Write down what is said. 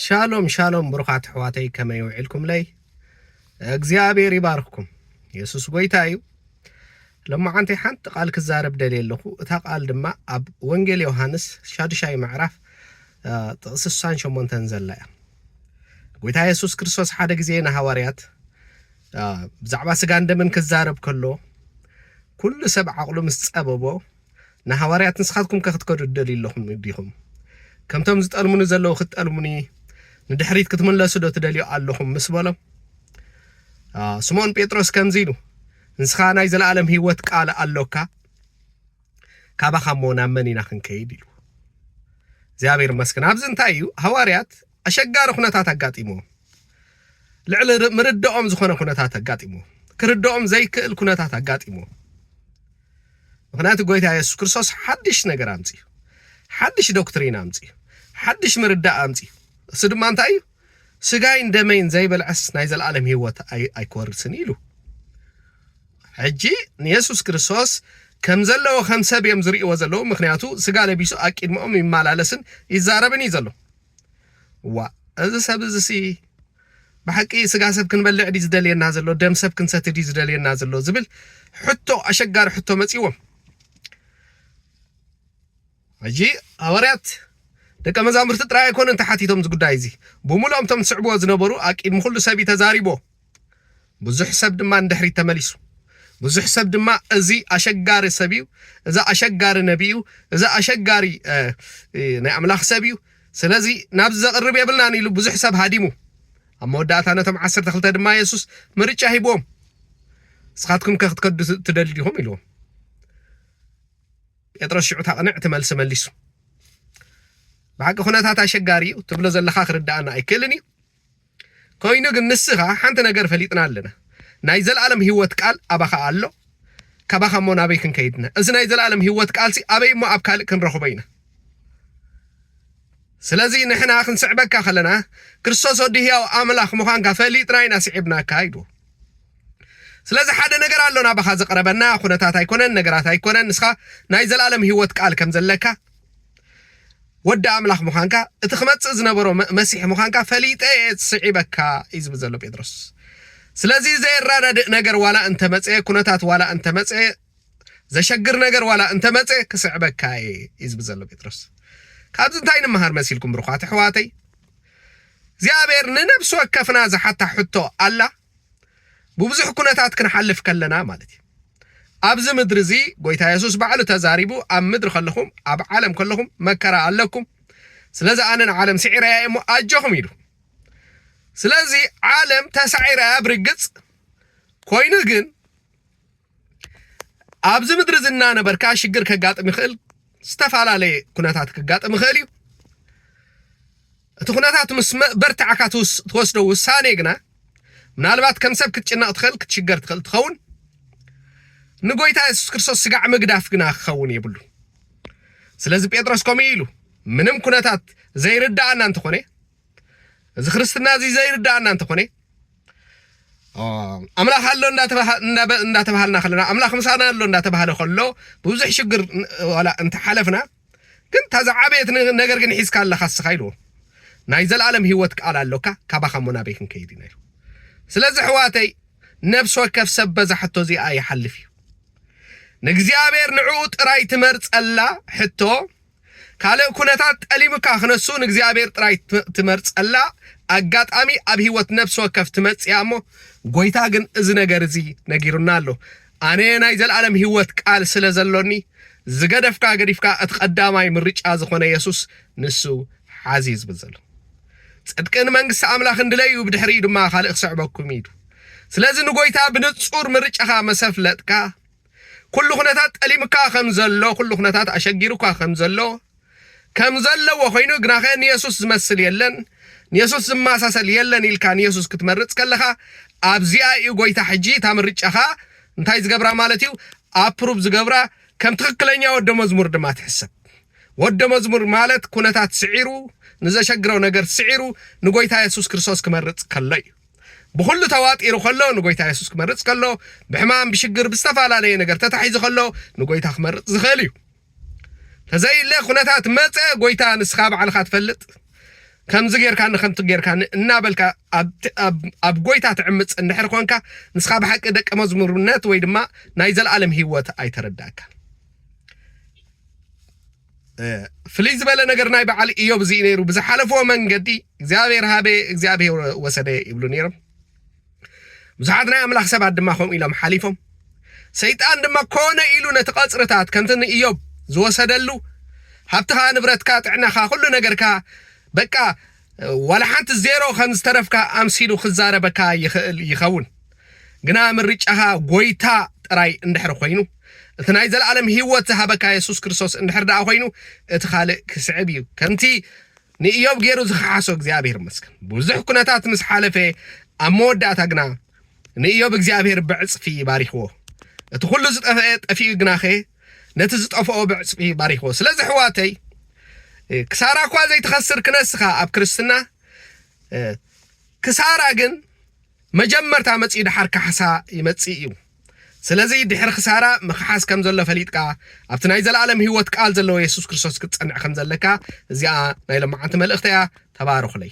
ሻሎም ሻሎም ብሩኻት ኣሕዋተይ ከመይ ውዒልኩምለይ እግዚኣብሔር ይባርኽኩም የሱስ ጎይታ እዩ ለማዓንቲ ሓንቲ ቃል ክዛረብ ደልየ ኣለኹ እታ ቃል ድማ ኣብ ወንጌል ዮሃንስ ሻዱሻይ ምዕራፍ ጥቕሲ ስሳን ሸሞንተን ዘላ እያ ጎይታ የሱስ ክርስቶስ ሓደ ግዜ ንሃዋርያት ብዛዕባ ስጋን ደምን ክዛረብ ከሎ ኩሉ ሰብ ዓቕሉ ምስ ጸበቦ ንሃዋርያት ንስኻትኩምከ ክትከዱ ትደልዩ ኣለኹም ዲኹም? ከምቶም ዝጠልሙኒ ዘለዉ ክትጠልሙኒ ንድሕሪት ክትምለሱ ዶ ትደልዩ ኣለኹም? ምስ በሎም ስምዖን ጴጥሮስ ከምዚ ኢሉ ንስኻ ናይ ዘለኣለም ህይወት ቃል ኣሎካ ካባኻ እሞ ናብ መን ኢና ክንከይድ ኢሉ እግዚኣብሔር ይመስገን ኣብዚ እንታይ እዩ ሃዋርያት ኣሸጋሪ ኩነታት ኣጋጢሞም ልዕሊ ምርዳኦም ዝኾነ ኩነታት ኣጋጢሞም ክርዳኦም ዘይክእል ኩነታት ኣጋጢሞም ምኽንያቱ ጎይታ የሱስ ክርስቶስ ሓድሽ ነገር ኣምጺኡ። ሓድሽ ዶክትሪን ኣምጺኡ። ሓድሽ ምርዳእ ኣምጺኡ። እሱ ድማ እንታይ እዩ? ስጋይን ደመይን ዘይበልዐስ ናይ ዘለኣለም ህይወት ኣይክወርስን እዩ ኢሉ። ሕጂ ንየሱስ ክርስቶስ ከም ዘለዎ ከም ሰብ እዮም ዝርእይዎ ዘለዉ፣ ምክንያቱ ስጋ ለቢሱ ኣቂድመኦም ይመላለስን ይዛረብን እዩ ዘሎ። ዋእ እዚ ሰብ እዚሲ ብሓቂ ስጋ ሰብ ክንበልዕ ድዩ ዝደልየና ዘሎ ደም ሰብ ክንሰቲ ድዩ ዝደልየና ዘሎ ዝብል ሕቶ ኣሸጋሪ ሕቶ መፅዎም ሕጂ ሃዋርያት ደቀ መዛሙርቲ ጥራይ ኣይኮኑን ተሓቲቶም እዚ ጉዳይ እዚ ብምሉኦም እቶም ዝስዕብዎ ዝነበሩ ኣቂድሚ ኩሉ ሰብ እዩ ተዛሪቦ ብዙሕ ሰብ ድማ ንድሕሪት ተመሊሱ። ብዙሕ ሰብ ድማ እዚ ኣሸጋሪ ሰብ እዩ፣ እዚ ኣሸጋሪ ነቢ እዩ፣ እዚ ኣሸጋሪ ናይ ኣምላኽ ሰብ እዩ፣ ስለዚ ናብዚ ዘቕርብ የብልናን ኢሉ ብዙሕ ሰብ ሃዲሙ። ኣብ መወዳእታ ነቶም ዓሰርተ ክልተ ድማ የሱስ ምርጫ ሂብዎም፣ ንስኻትኩም ከ ክትከዱ ትደልዩ ዲኹም ኢልዎም። ጴጥሮስ ሽዑ እታ ቅንዕቲ መልሲ መሊሱ። ብሓቂ ኩነታት ኣሸጋሪ እዩ ትብሎ ዘለኻ ክርድኣና ኣይክእልን እዩ ኮይኑ ግን ንስኻ ሓንቲ ነገር ፈሊጥና ኣለና ናይ ዘልኣለም ሂወት ቃል ኣባኻ ኣሎ ካባኻ እሞ ናበይ ክንከይድ እና እዚ ናይ ዘልኣለም ሂወት ቃልሲ ኣበይ እሞ ኣብ ካልእ ክንረኽቦ ኢና ስለዚ ንሕና ክንስዕበካ ከለና ክርስቶስ ወዲ ህያው ኣምላኽ ምዃንካ ፈሊጥና ኢና ስዒብናካ ኢሉ ስለዚ ሓደ ነገር ኣሎ ናባኻ ዘቕረበና ኩነታት ኣይኮነን ነገራት ኣይኮነን ንስኻ ናይ ዘለኣለም ህይወት ቃል ከም ዘለካ ወዲ ኣምላኽ ምዃንካ እቲ ክመጽእ ዝነበሮ መሲሕ ምዃንካ ፈሊጠ እየ ስዒበካ እዩ ዝብል ዘሎ ጴጥሮስ ስለዚ ዘየራዳድእ ነገር ዋላ እንተመጸ ኩነታት ዋላ እንተመጸ ዘሸግር ነገር ዋላ እንተመጸ ክስዕበካ እየ እዩ ዝብል ዘሎ ጴጥሮስ ካብዚ እንታይ ንምሃር መሲልኩም ብርኳት ኣሕዋተይ እግዚኣብሔር ንነብሲ ወከፍና ዝሓታ ሕቶ ኣላ ብብዙሕ ኩነታት ክንሓልፍ ከለና ማለት እዩ ኣብዚ ምድሪ እዚ ጎይታ የሱስ ባዕሉ ተዛሪቡ ኣብ ምድሪ ከለኹም ኣብ ዓለም ከለኹም መከራ ኣለኩም ስለዚ ኣነ ንዓለም ስዒረያ እሞ ኣጆኹም ኢሉ ስለዚ ዓለም ተሳዒራያ ብርግፅ ኮይኑ ግን ኣብዚ ምድሪ እዚ እናነበርካ ሽግር ከጋጥም ይኽእል ዝተፈላለየ ኩነታት ክጋጥም ይኽእል እዩ እቲ ኩነታት ምስ በርትዕካ ትወስዶ ውሳኔ ግና ምናልባት ከም ሰብ ክትጭነቕ ትኽእል ክትሽገር ትኽእል ትኸውን ንጎይታ የሱስ ክርስቶስ ስጋዕ ምግዳፍ ግና ክኸውን የብሉ ስለዚ ጴጥሮስ ከምኡ ኢሉ ምንም ኩነታት ዘይርዳእና እንተኾነ እዚ ክርስትና እዚ ዘይርዳኣና እንተኾነ ኣምላኽ ኣሎ እንዳተባሃልና ከለና ኣምላኽ ምሳና ኣሎ እንዳተባሃለ ከሎ ብብዙሕ ሽግር ዋላ እንተሓለፍና ግን እታ ዝዓበየት ነገር ግን ሒዝካ ኣለኻ ስኻ ኢልዎ ናይ ዘለኣለም ህይወት ቃል ኣሎካ ካባኻ እሞ ናበይ ክንከይድ ኢና ኢሉ ስለዚ ሕዋተይ ነፍሲ ወከፍ ሰብ በዛ ሕቶ እዚኣ ይሓልፍ እዩ ንእግዚኣብሔር ንዕኡ ጥራይ ትመርጸላ ሕቶ ካልእ ኩነታት ጠሊሙካ ክነሱ ንእግዚኣብሔር ጥራይ ትመርጸላ ኣጋጣሚ ኣብ ህይወት ነፍሲ ወከፍ ትመጽያ እሞ ጎይታ ግን እዚ ነገር እዚ ነጊሩና ኣሎ ኣነ ናይ ዘልኣለም ህይወት ቃል ስለ ዘሎኒ ዝገደፍካ ገዲፍካ እቲ ቀዳማይ ምርጫ ዝኾነ የሱስ ንሱ ሓዚ ዝብል ዘሎ ጽድቅን መንግስቲ ኣምላኽን ድለዩ ብድሕሪ ድማ ካልእ ክስዕበኩም ኢሉ ስለዚ ንጎይታ ብንጹር ምርጫኻ መሰፍለጥካ ኩሉ ኩነታት ጠሊሙካ ከም ዘሎ፣ ኩሉ ኩነታት ኣሸጊሩካ ከም ዘሎ፣ ከም ዘለዎ ኮይኑ ግናኸ ንየሱስ ዝመስል የለን፣ ንየሱስ ዝመሳሰል የለን ኢልካ ንየሱስ ክትመርጽ ከለኻ፣ ኣብዚኣ እዩ ጎይታ ሕጂ እታ ምርጫኻ እንታይ ዝገብራ ማለት እዩ ኣፕሩቭ ዝገብራ ከም ትኽክለኛ ወደ መዝሙር ድማ ትሕሰብ። ወደ መዝሙር ማለት ኩነታት ስዒሩ ንዘሸግረው ነገር ስዒሩ ንጎይታ የሱስ ክርስቶስ ክመርጽ ከሎ እዩ። ብኹሉ ተዋጢሩ ከሎ ንጎይታ የሱስ ክመርጽ ከሎ ብሕማም ብሽግር ብዝተፈላለየ ነገር ተታሒዙ ከሎ ንጎይታ ክመርጽ ዝኽእል እዩ ተዘይለ ኩነታት መጸ ጎይታ ንስኻ ባዕልኻ ትፈልጥ ከምዚ ጌርካኒ ከምቲ ጌርካኒ እናበልካ ኣብ ጎይታ ትዕምፅ እንድሕር ኮንካ ንስኻ ብሓቂ ደቂ መዝሙርነት ወይ ድማ ናይ ዘለኣለም ሂወት ኣይተረዳእካን ፍልይ ዝበለ ነገር ናይ በዓል እዮብ እዚ ነይሩ ብዝሓለፍዎ መንገዲ እግዚኣብሔር ሃበ እግዚኣብሔር ወሰደ ይብሉ ነይሮም ብዙሓት ናይ ኣምላኽ ሰባት ድማ ከምኡ ኢሎም ሓሊፎም ሰይጣን ድማ ኮነ ኢሉ ነቲ ቐፅርታት ከምቲ ንእዮብ ዝወሰደሉ ሃብትኻ ንብረትካ ጥዕናኻ ኩሉ ነገርካ በቃ ዋላ ሓንቲ ዜሮ ከም ዝተረፍካ ኣምሲሉ ክዛረበካ ይኽእል ይኸውን ግና ምርጫኻ ጎይታ ጥራይ እንድሕር ኮይኑ እቲ ናይ ዘለኣለም ህይወት ዝሃበካ የሱስ ክርስቶስ እንድሕር ደኣ ኮይኑ እቲ ካልእ ክስዕብ እዩ ከምቲ ንእዮብ ገይሩ ዝኸሓሶ እግዚኣብሔር ይመስገን ብዙሕ ኩነታት ምስ ሓለፈ ኣብ መወዳእታ ግና ንእዮብ እግዚኣብሔር ብዕጽፊ ባሪኽዎ እቲ ኩሉ ዝጠፍአ ጠፊኡ ግናኸ ነቲ ዝጠፍኦ ብዕጽፊ ባሪኽዎ ስለዚ ሕዋተይ ክሳራ እኳ ዘይትኸስር ክነስኻ ኣብ ክርስትና ክሳራ ግን መጀመርታ መጺኡ ደሓር ካሕሳ ይመጽእ እዩ። ስለዚ ድሕሪ ክሳራ ምኽሓስ ከም ዘሎ ፈሊጥካ ኣብቲ ናይ ዘለኣለም ህይወት ቃል ዘለዎ የሱስ ክርስቶስ ክትጸንዕ ከም ዘለካ እዚኣ ናይ ሎማዓንቲ መልእኽተይ እያ ተባረኹለይ።